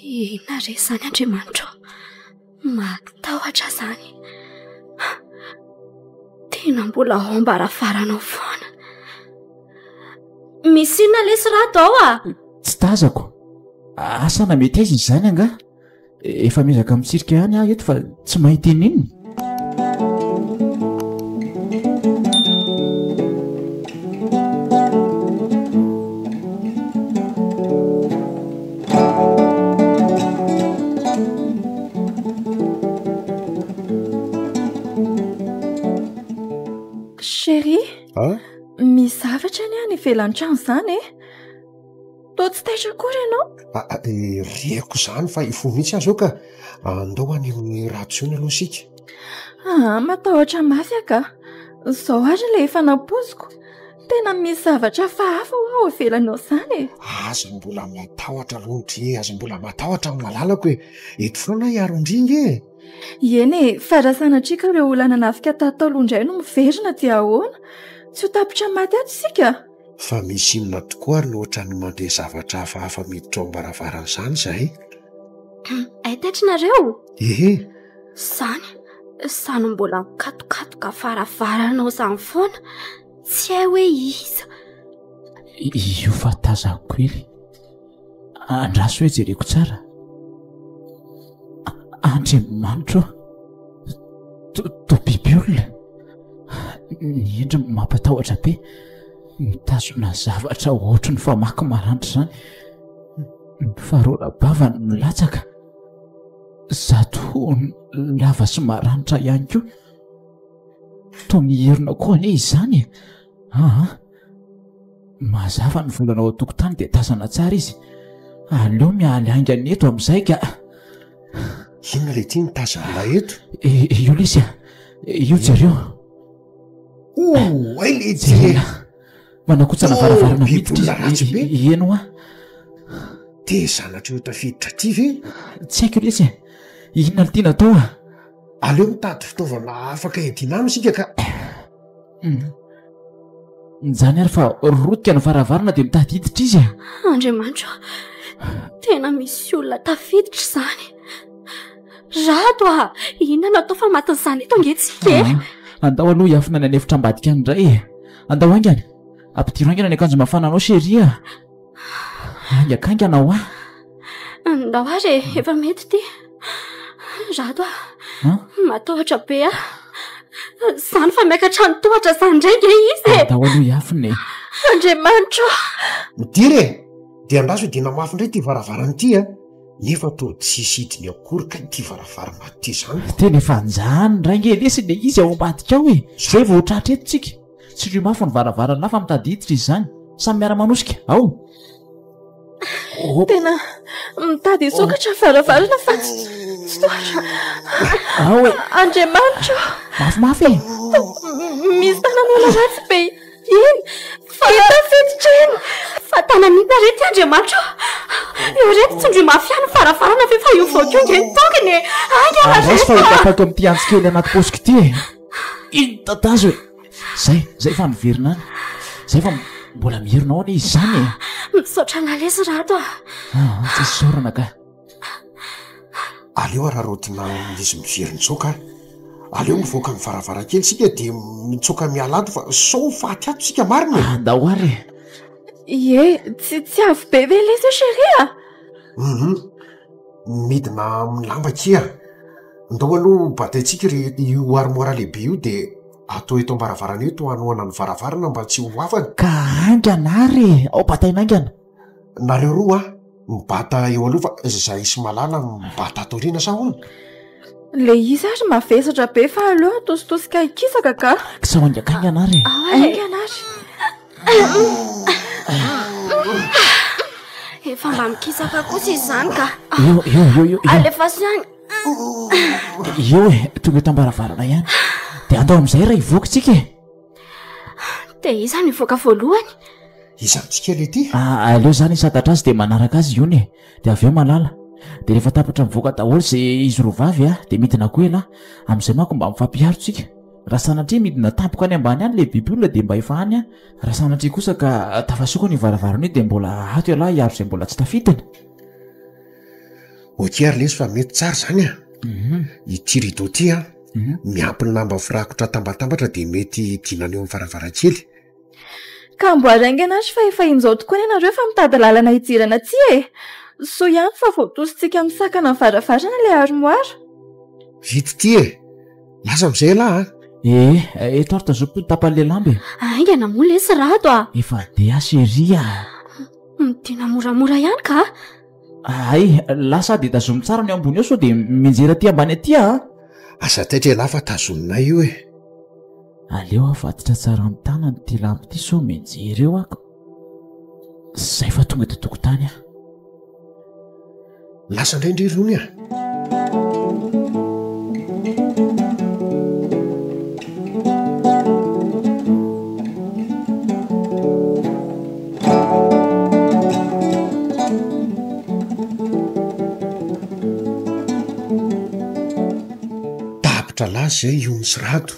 Inona re izany Andriamanitra o! Matahotra izany. Tena mbola ao am-baravarana ao foana. Misy inona lesy rato ao ah? Tsy tazako. Asa na mety aiza izany angaha? Efa miezaka mitsirika ihany aho eto fa tsy mahita inona. Chérie, misy zavatra anie any ivelan'ny trano izany e! Toa tsy taitra akory ianao? Reko izany fa hifoha mihitsy aho izao ka. Andao any amin'ny ratsy ony aloha isika. Matahotra mafy aho ka. Izao àry ilay efa nampoiziko. Tena misy zavatra hafahafa hoa ao ivelan'izany e! Aza mbola matahotra aloha ndry e, aza mbola matahotra ny malalako e! Eto foana aho hiaro an-dry ange e! Eny e, fa raha sanatria ka ireo olona nanafika tato taloha indray no miverina dia ahoana? Tsy ho tapitra ny maty ato isika? Fa misy inona tokoa ary no ohatran'ny mandeha zavatra hafahafa miditra ao am-baravarana izany izahay? Hay taitry nareo? Ehe! Izany, sa no mbola mikatokatoka varavarana ao izany foana? Tsy hay hoe iza. Io fa tazako kely. Andraso hoe jereko tsara. Andriamanitro to biby olona. Ny endriny mampatahotra be. Mitazona zavatra ohatry ny famaky maranitra izany. Mifaroram-bavany milatsaka. Zato hohony lava sy maranitra ihany koa. toa mihirina koa anie izany e aa mazava ny volana ao an-tokotany dia tazana tsara izy aleo mialy aingany eto amin'izay ka inona ilay ity ny tazana eto e io lesy a io jereo oay le jere manakotsana varavarana miditra izy ieno a te zanatra eo tafiditra aty ve tsy haiko lesy e inona litiana atao a Aleo mitady fitaovana afaka iadiana aminy isika ka. Injany ary fa rotika ny varavarana dia mitady hiditra izy a! Andriamanitro a! Tena misy olona tafiditra izany. Rado a! Inona no atao fa matin'izany eto ange tsika e? Andao aloha hiafina any an'efitra ambadika any indray e! Andao haingana! Ampidiro haingana ny akanjo mafananao chérie a! Hainga kainga anao ah. Andao ary e, efa mety ity. Rato ah. Huh? Matahotra be ah. Zany fa miakatra ny tohatra zany ndray nge izy e. Andao aloha iafina e. Andriamanitro. Midira e. Dia andraso dia namafy indray ity varavarana ity ah. Nefa toa tsisy hidiny akory ka ity varavarana ity zany. Tena efa anjany ndray nge lesy le izy ao ambadika ao e. Zay vao tratra eto tsika. Tsindrio mafy ny varavarana na fa mitady hiditra izy izany. Samy miara-manosika. Ao! Tena mitady hisokatra ny varavarana fa tsy tsy tohatra. Ao e! Andriamanitra ô! Mafimafy e! Misy tanan'olona ratsy be eny. Fa efa fiditra eny. Fa tanan'inona re ity Andriamanitra ô? Eo re dia tsindrio mafy ihany ny varavarana ve fa io vaoka io ange no tokony e! Ainga raha zay fa. Andraso fa ho tapako amin'ity antsy kely anaty paosiko ity e! Iny tatazo e! Zay, zay fa miverina any. Zay fa mbola mierina ao anie izy zany e! Misaotra an'Alesy Rato a! Ah, tsy isaorana ka. Aleo araraotina izy miverin-tsoaka a! Aleo mivoaka amin'ny varavarankely isika dia mitsoaka miala ato fa sao faty ato isika marina e! Andao ary e! Ie, tsy, tsy avy be ve lesy io chérie a? Hum! midina amin'ny lamba akia, ndao aloha hobataintsika ry io armoire lehibe io dia atao eto am-baravarana eo eto hanohana ny varavarana mba tsy ho afany. Ka haingana ary e! Ao bataina haingana. Nareo roa mibata eo aloha fa izahay sy Malala mibata ato aoriana sa ahoana? Ilay izy ary mavesatra be fa aleo atositosika hikisaka ka. Sao haingakaingana ary e! Ao haingana ary. Efa mba mikisaka kosa izany ka. Io, io, io, io. Alefaso ihany. Io e, tonga eto ambaravarana ihany. Dia andao amin'izay raha hivoaka isika e. Dia iza no hivoaka voalohany? Iza amintsika ilay ity? Ah, aleo izany hisantatra azy dia manaraka azy io e. Dia avy eo malala. Dia rehefa tapitra mivoaka daholo izay izy roa vavy dia midina koa ialahy. Amin'izay manko mba mifampiharo isika. Raha sanatria midina tampoka any ambany any ilay biby olona dia mba efa any an! Raha sanatria kosa ka tafasokony io varavarana io dia mbola ato ialahy hiaro izay mbola tsy tafidiny. Ok ary lesy fa mety tsara izany an! Mhm. Ity rideau ity an, miampy ny lamba firakotra atambatambatra dia mety idinana eo amin'ny varavarankely. Ka mboary haingana ary fa efa injao tokoa ny anareo fa mitady lalana hidirana aty e! Soa ihany fa voatosintsika amin'ny sakana ny varavarana ilay armoire. Vita ity e! Lasa amin'izay ialahy an! Ee, eto ary tazomiko ny tapan'ilay lamba e! Haingana moa lesy Rado a! Efa dia aho chérie a! Midina moramora ihany ka a! Hay, lasa aho dia tazomy tsara ny eo ambony eo sao dia mianjera aty ambany aty aho a! Aza taitra ialahy fa tazominay io e! Aleo avaditra tsara amin'ny tanany ity lamba ity sao mianjera eo ako. Zay fa tonga eto tokotany aho. Lasa indray ndry irony ah. Tapitra laza izay i Ony sy Rado.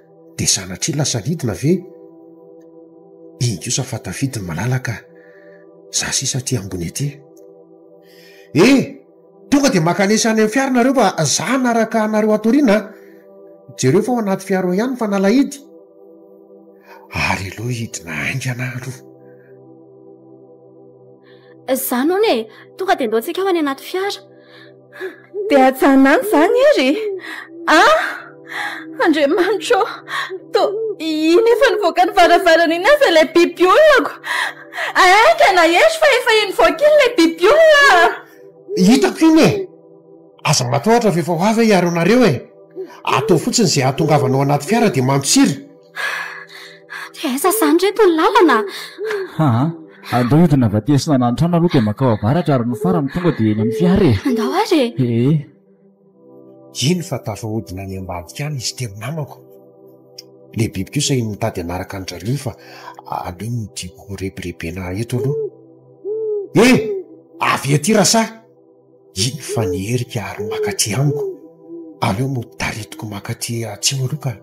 dia sanatria lasa vidina ve? Inona kosa fa tafidy ny malalaka a! Za sisa aty ambony aty e! E! Tonga dia makanesa any amin'ny fiara nareo fa za hanaraka anareo ato aoriana a! Jereo fa ao anaty fiara ao ihany ny fanalahidy. Ary aleo hidina haingana aloha. Izany hono e! Tonga dia ndao tsika ao any anaty fiara. Dia hajanona any izany ery e. Ah! Andriamanitro, to iny efa nivoaka ny varavarana iny aza ilay biby olonako. Aika na ery fa efa iny nivoaka iny ilay biby olona. Hitako iny e. Aza matahotra fa efa ho avy aho hiaro anareo e. Ataovy fotsiny izay hahatongavanao anaty fiara dia mantsira. Dia aiza izany reto ny lalana? Haa, andao hidina avy aty asinana ny trano aloha dia makao avaratra ary ny farany tonga dia eny amin'ny fiara e. Andao ary e. Ee. Iny fa tafahodina any ambadika any izy telo namako. Ilay biby kosa iny mitady hanaraka an'i Dralio fa aleo ny tiako rebirebena eto aloha. Ee! Avia aty Rasaha! Iny fa ny herika ary mankaty amiko, aleo no taritiko mankaty atsimo aloha ka.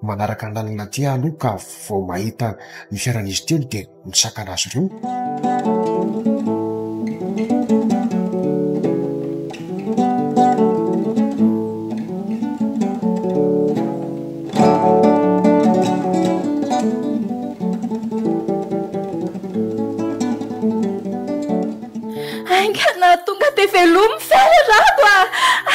Manaraka ny lalana aty aho aloha ka vao mahita ny fiaran'izy telo dia misakana azy ireo. Ainga na tonga dia velomy fiara rado a!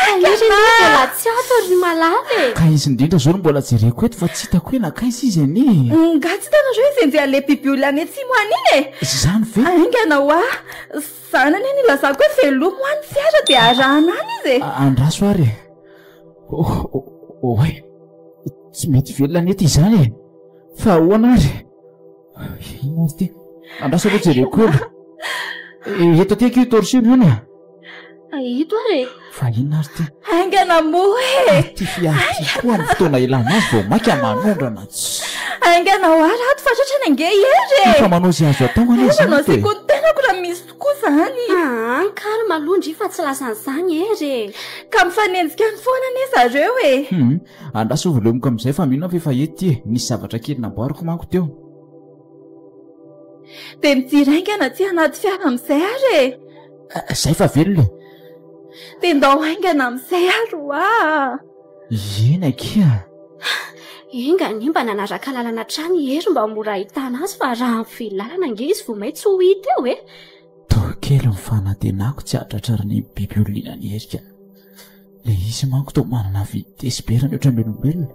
Ainga na! Iry anie mbola tsy ato ry Malala e! Ka izy indrindra izao no mbola jereko eto fa tsy hitako hoe nankaiza izy anie e! Nga tsy hitanareo izy enjehan'ny le bibiolona any atsimo any iny e! Izany ve? Ainga na hoa! Izany anie no ilazako hoe velomy hoa ny fiara dia arahana any izy e! Andraso ary e! Oay! Tsy mety velona ny eto izany e! Fa ahoana ary? Inona izy ity? Andraso aloha jereko kely. Eh, eto aty akia io torchon io ny a. Ito ary e. Fa inona ary ity? Aingana moa e. Ah, ity fiary ity koa ny fotoana ilana azy vao maika manondrana. Aingana ho ary ato fa tratra ny ange hery e. Efa manao izay azo atao any izy. Aingana izay koa ny tenako raha misy tokoa izany. Ah, ny kary maloha ndry fa tsy lasan'izany hery e. Ka mifanenjika any foana anie zareo e. Hmm. Andraso ho velomiko amin'izay fa mino aho f'efa ety e! Nisy zavatra kely namboariko manko teo. Dia mijery haingana aty anaty fiara amin'izay ary e! Izay fa velona e! Dia ndao haingana amin'izay ary ho'a! Ieny akia a! Enga anie mba nanaraka lalana hatrany i Hery mba ho mora ahitana azy fa raha mifehy lalana ange izy vao may tsy ho hita eo e! Toa kely ny fanantenako tsy hahatratra ny biby olona iny an'i Hery ka! Ilay izy manko toa manana vitesse be raha mihoatra ny olombelona.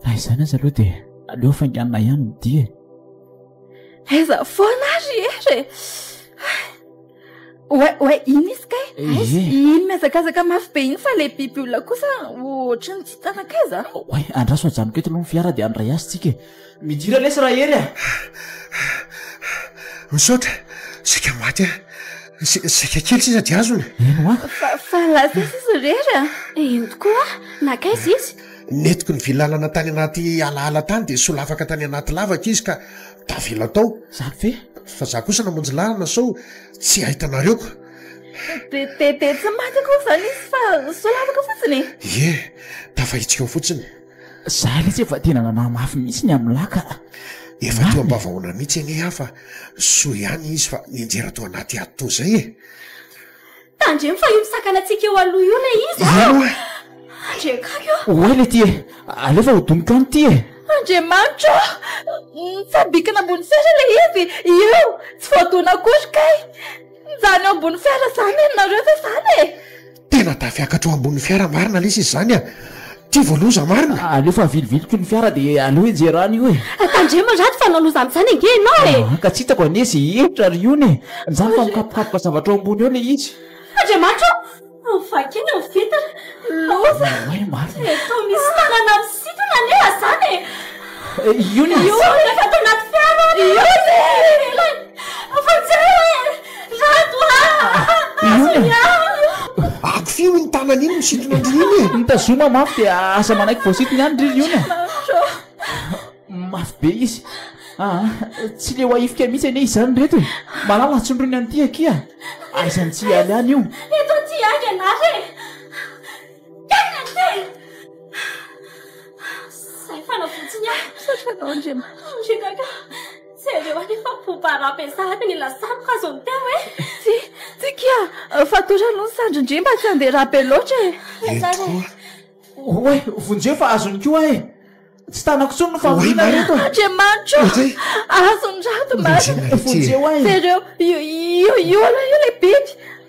Na izany aza aloha dia aleo hafainganina ihany ny dia e. Aiza foana ary ery e. Oe, oe, iny izy kay. Aiza, eh, eh. iny mihazakazaka mafy be iny fa ilay biby olona kosa ohatry ny tsy tanan-kaiza. Oe, andraso ajanoko eto aloha ny fiara dia handray azy tsika e. Midira lesy ra Hery a! Misaotra, saika maty aho. Saika kely sisa dia azony. Eny hoa. Fa lasa aiza izy ry Hery a? Eny tokoa, nankaiza izy? Nentiko ny vilalana tany anaty alaala tany dia solafaka tany anaty lavaka izy ka tavela tao. Zany ve? Fa za kosa namonjy lalana sao tsy ahitanareo ko. Dia tsy maty akory zany izy fa solafaka fotsiny e? Ie, tafahitsika ao fotsiny. Za lesy efa tena nanahy mafy mihitsy ny amin'ny lahy ka. Efa toa mba vahoana mihitsy anie aho fa soa ihany izy fa nianjera tao anaty ady toa izay e! Tandremo fa io misakana antsika eo aloha io ilay izy a! Io e! Andriankavy ô! Oay le ty e! Aleo fa hodoniko any ty e! Andriamanitra ô! Mitsambikina ambony fiara ilay izy io! Tsy voadona akory kay! Mijanona eo ambony fiara izany ianareo ve izany e! Tena tafiakatra eo ambony fiara marina lesy izy zany a! Ty vao loza marina! Aleo fa aviliviliko ny fiara de aleo enjera any io e! Tandremo ratsy fa nanao zany zany ange enao e! Aa ka tsy itako anie ze hevitra ry ony e! Zany fa mikapokapoka zavatra eo ambony eo le izy! Andriamanitra o! Vakina ny vitre! Loza! Oay marina! Eto misy tanana misintona anie a zany e! Ony! Ony! Efa ato anaty fiara! Ony! Eo ivelany! Afa-tsy eo e! Rado a! Aza ny ahy! Akofio iny tanany iny misintona an-dry iny e! Mitazoma mafy dia aza manaiky voasintony ihany ry Liona a! Mafy be izy. Aa! Tsy leo ahifika mihitsy anie izany ry reto e! Malala tsindroiny an'ity akia a! Aiza ny tsy hialy any io? Eto aty ihany ianareo e! Kailan ny tena? Zay fanavotsiny ahy! Misaotra anao Andriamanitra. Andriakaka. Jereo anie fa boba rap sahady ny lasako azo ny teo eh. Tsy, tsy kia, fa toa aloha ny sandrin-dry mba tsy andeha rap loatra e. Eto koa. Oay, vonjeo fa azony koa eh. Tsy tanako tsony ny famoriana reto eh. Andriamanitro, azony rato marina. Vonjeo ay. Jereo, io, io, io aloha io le biby.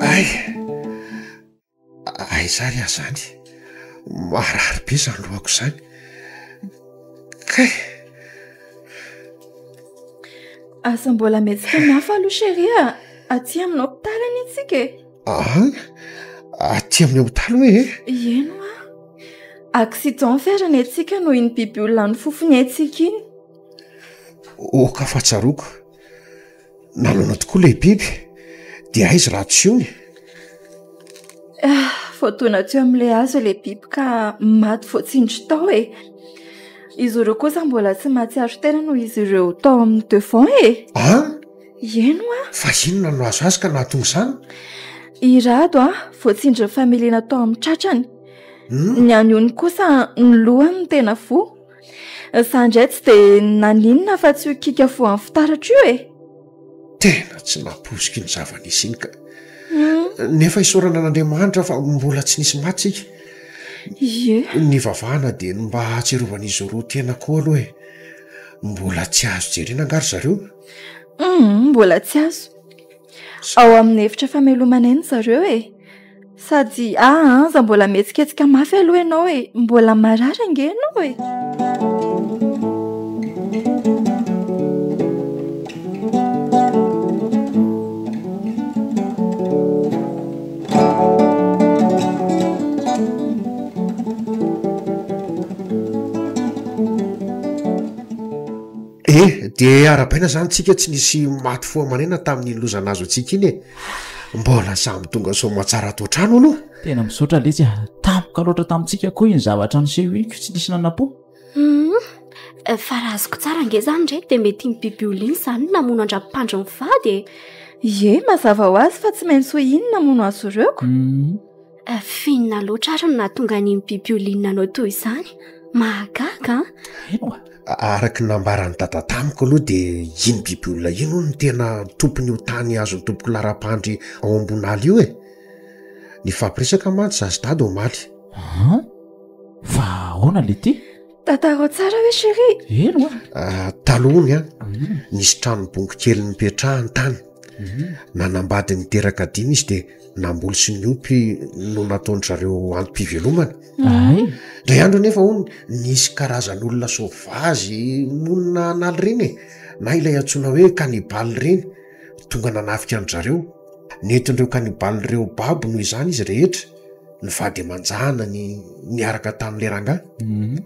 Ay! Aiza ary aho izany? Marary be izany lohako izany. Kay! Aza mbola mihetsika mafy aloha cherie a! Aty amin'ny hopitaly anie isika e! Aa aty amin'ny hopitaly hoe e ieno a accident ve ary ny antsika noho iny biby olona ny fofony haintsika iny oka fa tsaroako nanana tokoa ilay biby dia aizy raha tsy ony vao tona teo amin'ilay azo ilay biby ka maty voatsindry tao e izy ireo kosa mbola tsy mahatsiaro tena noho izy ireo tao amin'ny devant e aa Ieny hoa! Fa inona no nahazo azy ka nahatonga izany? I Rado a, voatsindrin'ny familiana tao amin'ny tratrany. Hmm? Ny an'i Ony kosa ny lohany no tena voa. Za indray tsy dia naninona fa tsy ho kiaka voan'ny fitaratra io e! Tena tsy nampoiziko iny zava-nisy iny ka. Hmm? Nefa isaorana an'Andriamanitra fa mbola tsy nisy maty isika. Ie. Nivavahana dia ny mba hahatsiarovan'izy roa tena koa aloha e. Mbola tsy azo jerena angaha ry zareo? Hum, mbola tsy azo. Ao amin'ny efitra famelomana eny zareo e. Sady aa aza mbola mihetsiketsika mafy aloha ianao e. Mbola marary ange ianao e. E! dia arabaina izany tsika tsy nisy maty fo aman'aina tamin'iny loza nahazo antsika iny e! mbola samy tonga soa aman-tsara ato an-trano aloha. Tena misaotra letsy a! tampoka loatra tamintsika koa iny zavatra nisehoniko tsy nisy nanampo. Hum, fa raha azoko tsara ange izany re dia mety iny biby oly iny izany no namono an-dRampandry mivady e! Ie, mazava ho azy fa tsy maintsy ho iny namono azy roa ko! Hum, Finona loatra ary no nahatonga an'iny bibioliny nanao toy izany. Mahagaga an! Eny oa! Araka ny nambaran'i Dada tamiko aloha dia iny bibiolona iny hono no tena tompon'io tany azon'ny tompoko laharam-pandry ao Ambonala io e! Nifampiresaka mantsy izaho sy Dada omaly. An! Fa ahoana ilay ity? Tantarao tsara ve chérie? Eny oa! Taloha hono an! Nisy tranom-bongo kely nipetrahany tany. Nanambady niteraka dimy izy dia. namboly sy ny ompy no nataon-dry zareo antom-pivelomana ahay dray andro anefa hony nisy karazan'olona sovazy monina analy ireny e na ilay antsoina hoe kanibaly ireny tonga nanafika an-dry zareo nentin-dreo kanibaly ireo babo noho izany izy rehetra ny vady aman-jana ny niaraka tamin'ilay rangahy mhm.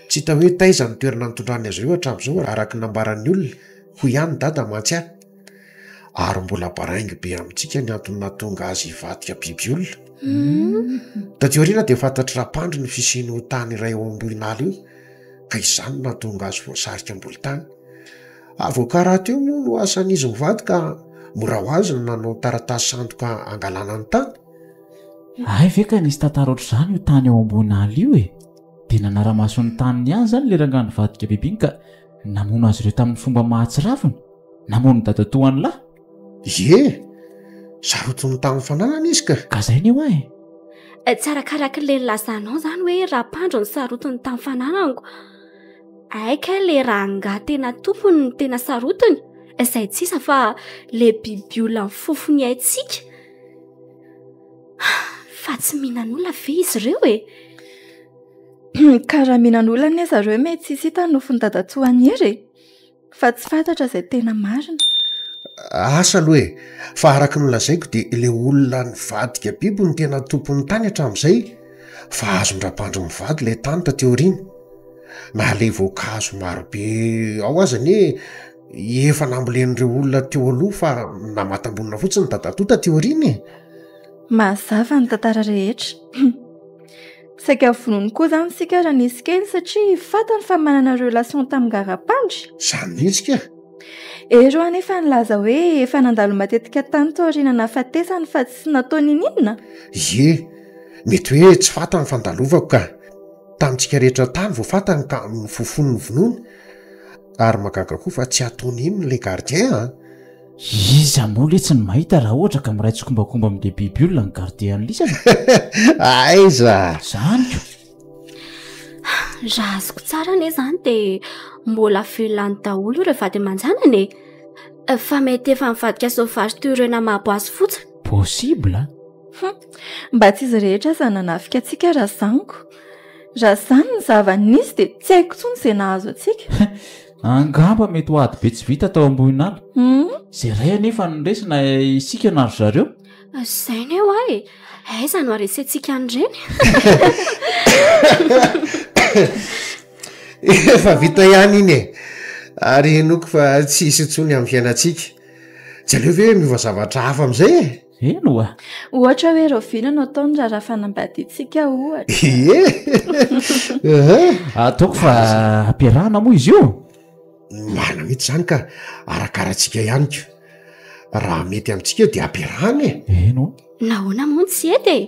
tsy hita hoe taiza ny toerana nitondrany azy ireo hatramin'izao araka ny nambaran'ny olona hoy ihany ny dada mantsy ahy Ary mbola baraingo be amintsika ny antony nahatonga azy hivadika biby olona. Hmm. Taty aoriana dia fantatr'i Rapandry ny fisian'io tany iray ao Ambohinala io, ka izany nahatonga azy voasarika ambolo tany. Ary voakaraty io moa no asan'izy mivady ka mora ho azy ny nanao ny taratasy sandoka hangalana ny tany. Ay ve ka nisy tantara ohatr'izany io tany ao Ambohinala io e? Dia nanara-maso ny taniny ihany izany ilay rangahy nivadika biby iny ka namono azy ireo tamin'ny fomba mahatsiravina. Namono dadatoan'lah? Ie! Sarotiny tamin'ny fananany izy ka! Ka zay ny hoa e! Tsy arakaraky le nilazanao zany hoe rapandro ny sarotiny tamin'ny fananako. Hay kay le rangah tena tompony no tena sarotiny, zay tsy iza fa le bibiolona mifofo ny aintsika. Fa tsy mihinan'olona ve izy ireo e? Ka raha mihinan'olona anie zareo mety tsy hisy hita ny nofon'i dadatoa an'i Hery e! Fa tsy fantatra izay tena marina. Asa aloha e! Fa araka ny lazaiko dia ilay olona nivadika biby no tena tompon'ny tany hatramin'izay. Fa azon-dRabandry mivady ilay tany taty aoriana. Na ilay voankazo marobe ao aza anie efa nambolen'ireo olona teo aloha fa namatam-bonina fotsiny dadatoa taty aoriana e! Mazava ny tantara rehetra. Saika vonoiny koa zany isika raha nisy kely satria fantany fa manana relation tamin'i Garapandry. Zany mihitsy kay. Eroa anefa nilaza hoe efa nandalo matetika tany taoriana nahafatesany fa tsy natao niniana? Ie, mety hoe tsy fantany fa ndalovako ka. Tamintsika rehetra tany vao fantany ka nofofoniny vonoiny. Ary mahagaga koa fa tsy atao nino ilay gardien an! Iza moa letsy ny mahita raha ohatra ka miray tsikombakomba amin'ilay biby olona ny garde an'i lisany aiza zaniko raha azoko tsara anie zany de mbola velany daholo ireo vady aman-janany e fa mety efa mivadika sauvage toy ireo namapo azy fotsiny possible mba tsy izy rehetra aza nanafika antsika raha zaniko raha zany ny zava-nisy de tsy haiko intsony izay nahazo antsika Angamba mety ho ady be tsy vita tao Ambohinala. Izay iray anefa no resy na isika na ry zareo. Izay ny eo ay! Aiza no haresentsika an'ireny? Efa vita ihany iny e! Ary henoiko fa tsy hisy intsony amin'ny fiainantsika. Tsy aleo ve miova zavatra hafa amin'izay e? Eny oa! Ohatra hoe rahoviana no ataony raha raha fanambadiantsika ohatra? Ehe! Ataoko fa ampiarahana moa izy io? Marina mihitsy izany ka! Arakaratsika ihany ko! Raha mety amintsika eo dia ampiarahana e! Eny oa! Nahoana moa no tsy hety e!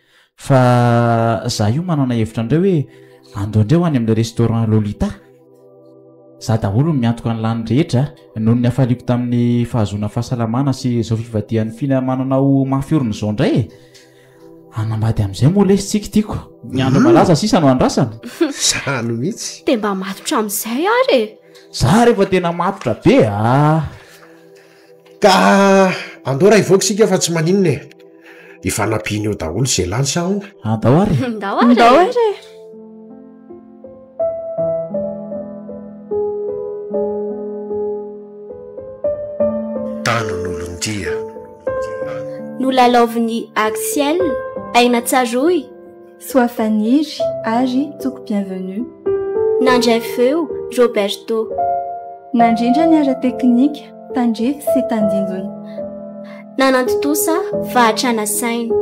Fa za io manana hevitra andreo hoe ando andreo any amin'ny restaurant Lolita. Za daholo no miantoka ny lany rehetra noho ny hafaliako tamin'ny fahazoana fahasalamana sy izao fivadihan'ny fina mananao mafy orina izao indray e. Hanambady amin'izay moa lesy tsika tiako. Ny andro malaza sisa no andrasana. Zany mihitsy. Dia mba matotra amin'izay ary e. Za rehefa tena matotra be a. Ka andao raha hivoaka isika fa tsy maninona e! Efa nampiany eo daholo izay lany sa ahoana? Andao ary e! Andao ary e! Tanon'olon-dia. Nolalaovin'i Axielle, Aina Tsaroy. Soafaniry ary Tsoko Bienvenue. Nandray feo, Roberto. Nandrindra ny ara-teknika, tandrify sy tandindona. Nanantontosa fahatrana saina.